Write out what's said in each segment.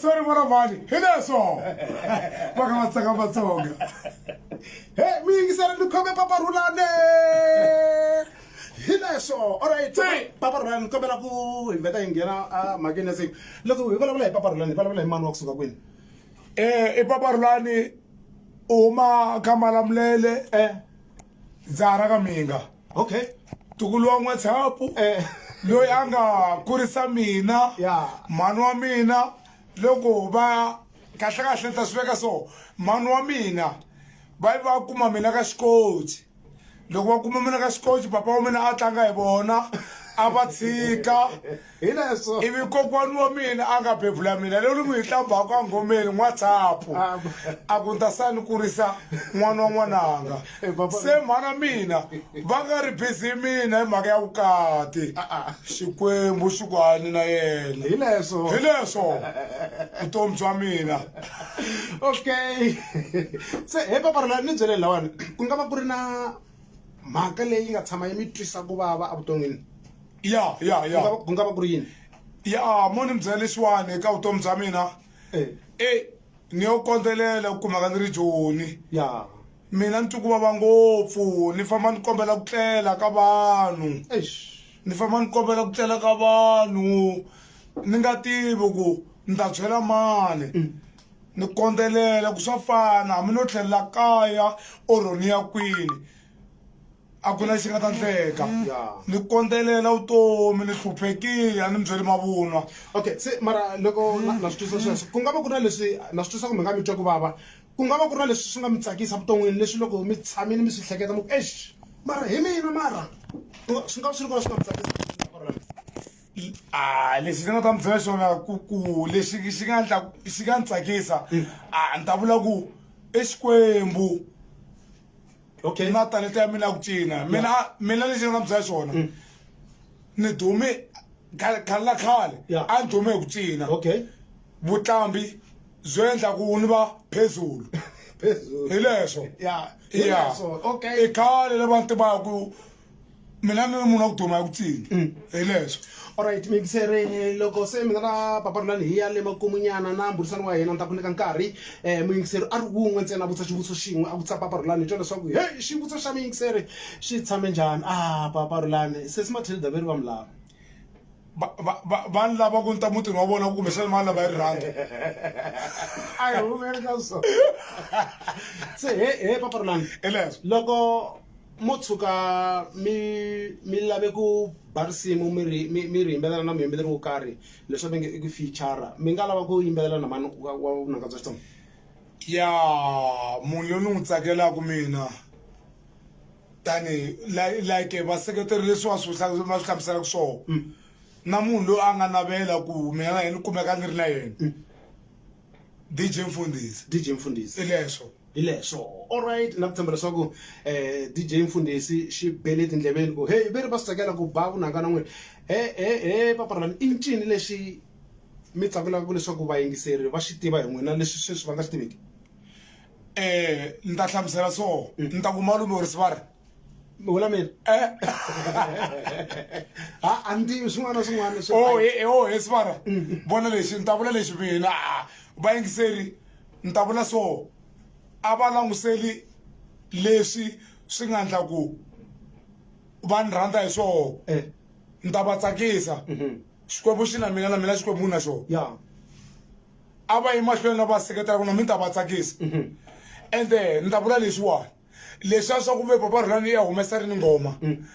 sorry mwana mhani hi leswo va ka va tsaka vatsonga he mi yingisela ni khome papa rhulane hi leswo olright papa rhulane ni kombela ku hi vheta hi nghena a mhakeni ya siku loko hi vulavula hi papa rhulane hi vulavula hi mani wa kusuka kwini Eh, i papa rulani u huma ka malamulele eh. ndza ha ra ka minga okay tukulu wa n'watshapu eh. loyi a nga kurisa mina mhani wa mina loko va kahlekahle ni ta swi veka so mhani wa mina va yi va kuma mina ka xikoti loko va kuma mina ka xikoxi papa wa mina a tlanga hi vona a va tshika ivi kokwani wa mina a nga bebula mina leyi ni n'wi hi hlambaka a ngomeni n'watshapu ah, a ku ta sa ni kurisa n'wana wa n'wananga eh, se mhana mina va nga ri bizi mina hi mhaka ya vukati ah, ah. xikwembu xi ku hani na yena hi leswo vutomi bya mina okay se he papa rona ni byele lawani ku nga va ku ri na mhaka leyi nga tshama yi mi twisa ku vava evuton'wini ya ya ya ku nga va ku ri yini ya mo ni mi byela lexiwani eka vutomi bya mina e eh. ni yo kondzelela ku kumaka ni ri joni ya mina ni twi ku vava ngopfu ni famba ni kombela ku tlela ka vanhu ni famba ni kombela ku tlela ka vanhu ni nga tivi ku ni ta byela mani mm. ni kondzelela ku swa fana hambi no tlhelela kaya or ni ya kwini a ku na lexi nga ta ndleka ni kondzelela vutomi ni hluphekile a ni mi byeli mavunwa okay se mara loko na swi twisa sweswo ku nga va ku ri na leswi na swi twisa kumbe nga mi twa ku vava ku nga va ku ri na leswi swi nga mi tsakisa vuton'wini leswi loko mi tshamile mi swi hleketa mu ex mara hi mina mara swi nga swi ri kona swi nga mi tsakisa a lexi ndzi nga ta mi byela xona ku ku lexi xi nga ndla xi nga ni tsakisa mm. a ni ta vula ku i xikwembu okay na talenta ya mina ku cina mina mina lexi nga mi byela xona mm. ni dume khale la khale a ni dume hi ku cina okay vutlambi byo endla ku ni va phezulu hi leswo ya i khale lava ni tivaku mina ni munhu wa ku duma ya ku tsini mm. hi leswo olright muyingiseri loko se mina na paparilani hi ya le makumunyana na mburisani wa hina ni ta ku nyika nkarhi um muyingiseri a ri wun'we ntsena a vutisa xivutiso xin'we a vutisa paparilani hi twa leswaku he xivutiso xa muyingiseri xi tshame njhani a ah, paparilani sesi mathilda veri va mi lava vanhu lava ku ni ta mutini wa vona kumbexana mani lava yi rhandi a hi humeli ka so se he he paparulani eleswo loko mo tshuka mi mi lave ku ba risimu mi ri mi mi ri yimbelela na muyimbeleri wo karhi leswi mi nge i ku feature mi nga lava ku yimbelela na mani wa wa vunanga bya xitsonga ya munhu loyi ni n'wi tsakelaka mina tani like vaseketeri leswi va swi va swi hlamuselaka swona mm. na munhu loyi a nga navela ku mina na yena kumeka ni ri na yena mm. dj mfundisi dj mfundisi ileswo hileswo allright na ku tshemba leswaku um eh, dj mfundisi xi bele tindleveni ku heyi ve ri va swi tsakela ku ba vunanga na n'wini he he he paparalani i ncini lexi mi tsakelaka leswaku vayingiseri va xi tiva hi n'wina leswi sweswi va nga swi tiveki eh ni ta hlamusela so mm. ni ta ku malume or sivara vula mina eh. ha a ni tivi swin'wana na swin'wana o oh, he eh, eh, oh, sivara mm. vona lexi ni ta vula lexi mina ah, vayingiseri ni ta vula so a va languseli leswi swi nga ndla ku va ni rhandza hi swoho ni ta va tsakisa mm-hmm. xikwembu xi na mina na mina xikwembu na xona a va yi mahlweni na va seketela ku na mi ta va tsakisa mhm. ende ni ta vula leswiwani leswi a swa ku vepa va rhulani ya humesa ri ni nghoma mm.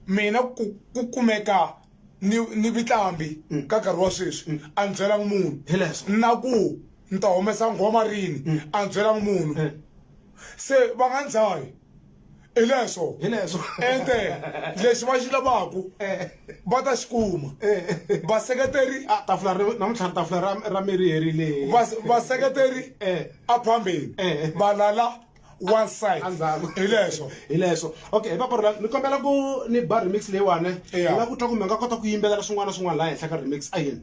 mina ku kumeka ni ni vitlambi mm. ka nkarhi wa sweswi mm. a ni byelanga munhu na ku ni ta humesa nghoma rini a ni byelanga munhu se va nga ndzayi hi leswo hi leswo ente lexi va xi lavaku eh. va ta xi kuma eh. vaseketeri ah, tafula namuntlha tafula ra ra miri herile vaseketeri eh. a phambeni va lala one side hi leswo hi leswo okay hi papara ni kombela ku ni ba remix leyiwani ni nga ku twa kumbe nga kota ku yimbelela swin'wana na swin'wana laha henhla ka remix a yini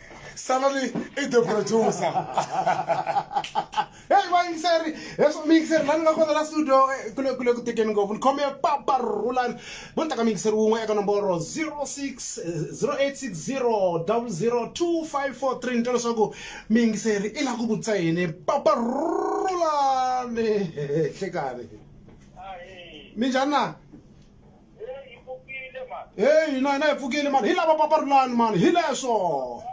salani i the producer heyi vayingiseri leswo miyingiseri lani nga kona la studio eh, kule kule ku tekeni ngopfu ni khome papa rhulani vo ni taka miyingiseri wun'we eka nomboro 06 0860 00254 ni twa leswaku miyingiseri i la ku vutisa yini papa rhulani hlekani minjhani na heyi hina hina hi pfukile mani hi lava papa rulani mani hi leswo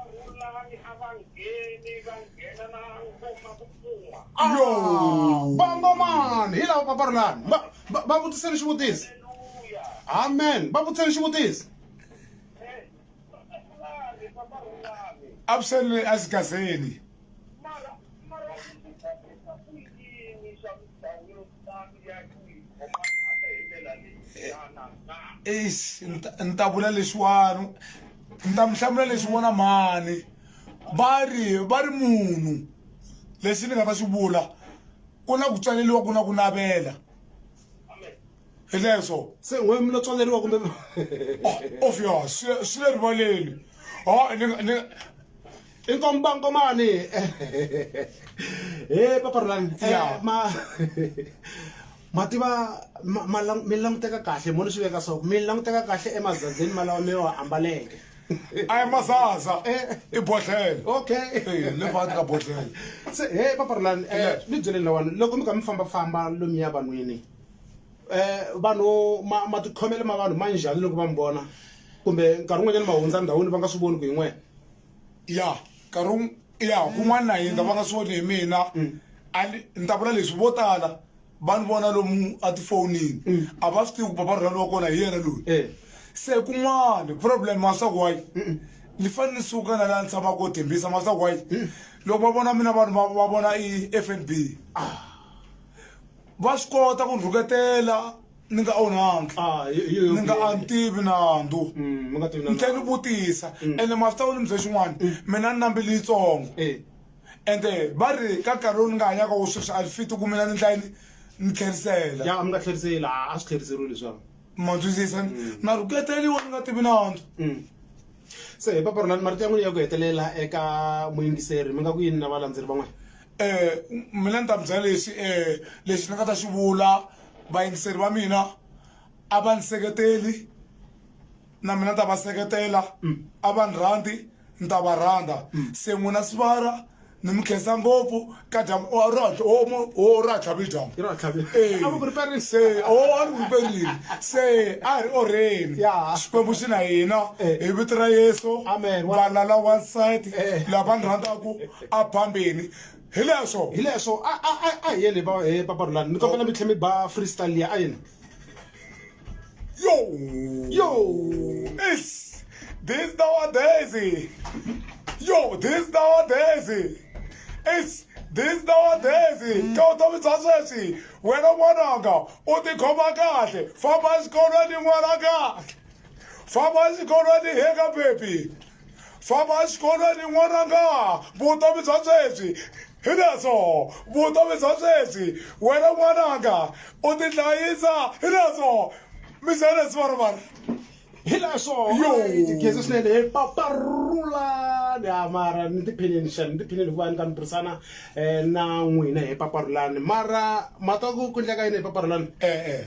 yo vangomani hi lava papa rulani va vutiseni xivutisi amen va vutiseni xivutisi avuseleni asigazeni eish ni ta- ni ta vula leswiwani ni ta mi hlamula leswi vona mhani va ri va ri munhu lexi ni nga ta xi vula ku na ku tswaleliwa ku na ku navela hi leswo se we mi lo tswaleriwa kumbe obvious swi le rivaleni ho ni nga- ni nga- Inkomba nkomani he papa Rhulani eh, ma ma tiva mi languteka kahle mo ni swi veka so mi languteka kahle emazazeni malawa mi wa ambaleke a hi mazaza eh. i bodlhele okay eh, le phakathi ka bodlhele se he papa Rhulani ni byeleni lawani loko mi kha mi fambafamba lomuya vanhwini um vanhu matikhomelo ma vanhu ma njhani loko va mi vona kumbe nkarhi wun'wanyana ma hundza ndhawini va nga swi voni ku hi n'wena ya nkarhi ya kun'wana na hina va nga swi voni hi mina mm. ni ta vula leswi vo tala va ni vona lomu atifonini mm. a va swi tivi ku papa rhulani wa kona hi yena loyi eh. se kun'wana problem maswaku wayi ni fanele ni suka na laha ni tshamaka ko tembisa maswaku wayi mm. loko va vona mina vanhu va vona i f n b ah. va swi kota ku rhuketela ni nga onhangi ah, ni nga a tivi nandzu mm, ni tlhe ni vutisa mm. ende ma swi tava ni mi bye xin'wana mm. mina ni nambili yitsongo eh. ende va ri ka nkarhi lowu ni nga hanyaka wo sweswi a ri fiti ku mina ni ndlayi ni tlherisela ya mi nga tlheriseli a swi tlheriseriwi leswaku ma twisisa na rhuketeliwa ni nga tivi nandzu se hi paparolani marito ya n'wini ya ku hetelela eka muyingiseri mi nga ku yini na valandzeri van'wana um mina ni ta mi byela lexi um lexi ni nga ta xi vula vayingiseri va mina a va ni seketeli na mina ni ta va seketela mm. a va ni rhandzi ni ta va rhandza mm. se n'wina sivara ni mi khensa ngopfu ka dyambu o ra tlhavi dyambu se o a ni vuperile se a hi ri orheni xikwembu xi na hina hi vito ra yesu valala wansati lava ni rhandzaku a bambini hi leswo hi leswo a a a a hi yele ba he papa rulani ni kombela mi tlhe mi ba freestyle liya a yini yo yo is this nowadays yo this nowadays is this nowadays ka vutomi bya sweswi wena n'wananga u tikhoma kahle famba exikolweni n'wananga famba exikolweni heka bebi Famba exikolweni n'wananga, vutomi bya sweswi hi leswo, vutomi bya sweswi. Wena n'wananga, u tihlayisa hi leswo, mi ze leswi va ri va ri. Hi leswo, alright, Gezi swinene, he paparulani. Ha mara ni tiphinini xana, ni tiphinini hikuva ni ta ni burisana na n'wina, he paparulani. Mara ma twa ku ku ndleka yini, he paparulani. E-e.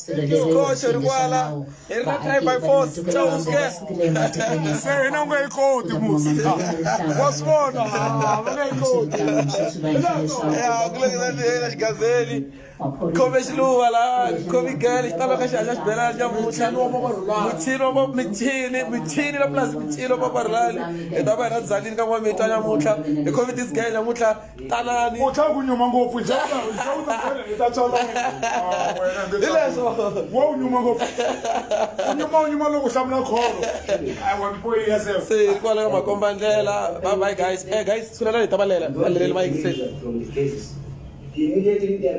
Isikhotsho ri kwala hi ri na try by force chauske se hina u nga yi koti musi wa swi vona va nga yi koti ya ku lekela ndlela xigazeli khome xiluva la khome gele xi tava ka xihatla xibelani xa mutlha muchini wa michini michini la plus michini wa paparulani hi ta va hi ra dzalini ka n'wamita nyamutlha hi khome disgay nyamutlha tanani u tlhela ku nyuma ngopfu hi tlhela ku tlhela ku tlhela hi ta tsala Ah, wena nge Hileswo. wo u nyuma ngopfu u nyuma u nyuma loko u hlamula kholo ai wa mpoyi ya se se kwala ka makomba ndlela bye bye guys eh guys sulela hi ta valela valeleli va yingiseli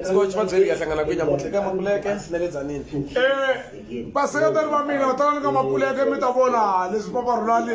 scotch va byeli ya hlangana kwinya mutle ka makuleke na le dzanini eh vaseketeri va mina tanani ka mapuleke mi ta vona leswi va va rhulali